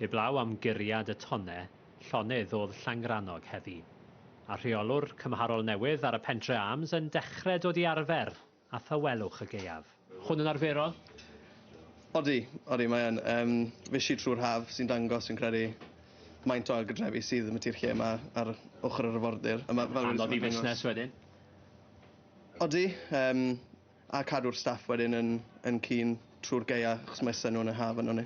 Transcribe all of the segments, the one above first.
Heblaw am guriad y tonnau llonydd o'dd Llangrannog heddi, a rheolwr cymharol newydd ar y Pentre Arms yn dechre dod i arfer â thawelwch y gaeaf. Hwn yn arferol? Odi, odi, mae yn. Yym, fuesh i trwy'r haf, sy'n dangos, fi'n credu, faint o ailgardrefi sydd yn y tir lle yma ar ochr yr arfordir. A ma', fel... Anodd i fusnes wedyn? Odi, yym, A cadw'r staff wedyn yn yn clean trwy'r gaea achos mae sun nhw'n yr haf yno ni.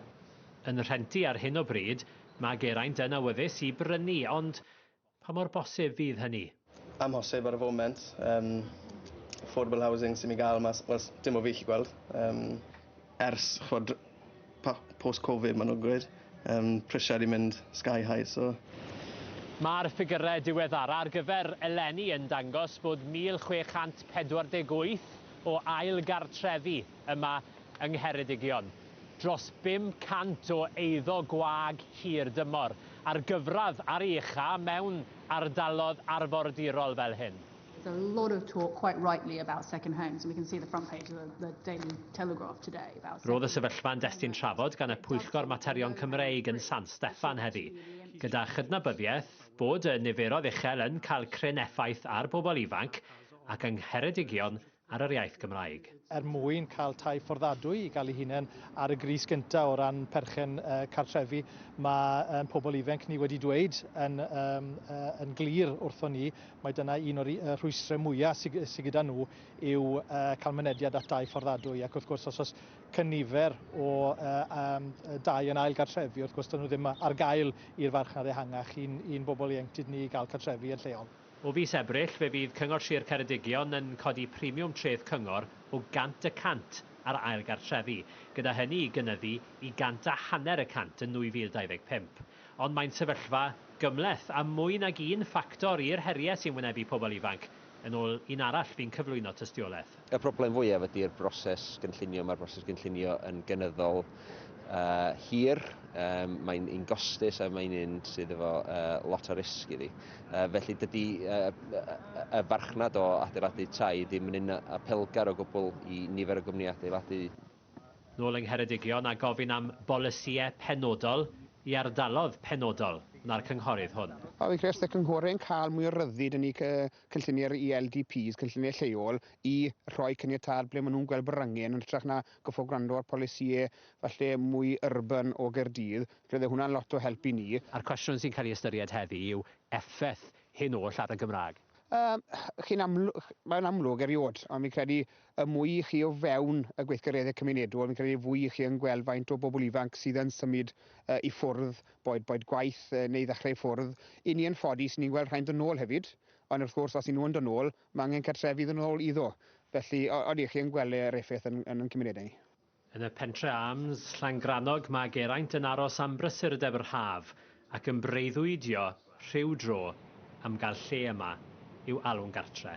Yn rhentu ar hyn o bryd, mae Geraint yn awyddus i brynu ond pa mor bosib fydd hynny? Amhosib ar y foment. Yym affordable housing sy'n mynd i gael mas, wel s- dim o fi 'llu gweld. Yym. Ers, ch'mod, pa- post Covid ma' nw'n gweud yym prisiau 'di mynd sky high so Mae'r ffigyrau diweddara ar gyfer eleni yn dangos bod 1,648 o ail gartrefi yma yng Ngheredigion, dros 500 o eiddo gwag hir dymor, a'r gyfradd ar ei ucha' mewn ardalodd arfordirol fel hyn. There's a lot of talk, quite rightly, about second homes, and we can see the front page of the, the Daily Telegraph today about. Roedd y sefyllfa yn destun trafod gan y Pwyllgor Materion Cymreig yn San Steffan heddi, gyda chydnabyddiaeth bod y niferoedd uchel yn cael cryn effaith ar bobl ifanc ac yng Ngheredigion ar yr iaith Gymraeg. Er mwyn cael tai fforddadwy i gael ei hunain ar y gris gyntaf o ran perchen cartrefi, mae ein pobl ifanc ni wedi dweud yn, um, yn glir wrthon ni, mae dyna un o'r rhwystrau mwyaf sydd sy gyda nhw yw uh, cael mynediad at dai fforddadwy. Ac wrth gwrs, os oes cynifer o uh, um, dai yn ail gartrefi, wrth gwrs, dyn nhw ddim ar gael i'r farchnad ehangach i'n, i'n bobl ieuenctid ni gael cartrefi yn lleol. O fis Ebrill fe fydd Cyngor Sir Ceredigion yn codi premiwm treth cyngor o gant y cant ar ail gartrefi, gyda hynny i gynyddu i gant a hanner y cant yn 2025. Ond mae'n sefyllfa gymhleth, a mwy nag un ffactor i'r heriau sy'n wynebu pobl ifanc, yn ôl un arall fu'n cyflwyno tystiolaeth. Y broblem fwyaf ydy'r broses gynllunio. Mae'r broses gynllunio yn gynyddol uh, hir, um, mae'n un gostus a mae'n un sydd efo uh, lot o risg iddi. Uh, felly dydy uh, y farchnad o adeiladu tai ddim yn un apelgar o gwbl i nifer o gwmni adeiladu nôl yng Ngheredigion a gofyn am bolisïau penodol i ardalodd penodol na'r cynghorydd hwn. Fi'n credu os ydy cynghorydd yn cael mwy o ryddid yn ei cynlluniau'r ELDPs, cynlluniau lleol, i rhoi cyniatâd ble maen nhw'n gweld bod angen, yn hytrach na goffo gwrando ar polisïau falle mwy urban o Gaerdydd, roedd hwnna'n lot o help i ni. A'r cwestiwn sy'n cael ei ystyried heddi yw effaith hyn oll ar y Gymraeg. Yym, chi'n amlw- mae'n amlwg eriod, ond fi'n credu Y mwy i chi o fewn y gweithgareddau cymunedol, fi'n credu y fwy i chi yn gweld faint o bobl ifanc sydd yn symud i ffwrdd, boed boed gwaith neu ddechrau i ffwrdd. I ni yn ffodus, ni'n gweld rhai'n dod nôl hefyd, ond wrth gwrs, os y'n nhw yn dod nôl, mae angen cartrefi iddyn nhw ôl iddo. Felly, odi, chi'n gweld yr effaith yn yn ein cymunedau ni. Yn y Pentre Arms, Llangrannog, mae Geraint yn aros am brysurdeb yr haf ac yn breuddwydio rhyw dro am gael lle yma i'w alw'n gartre.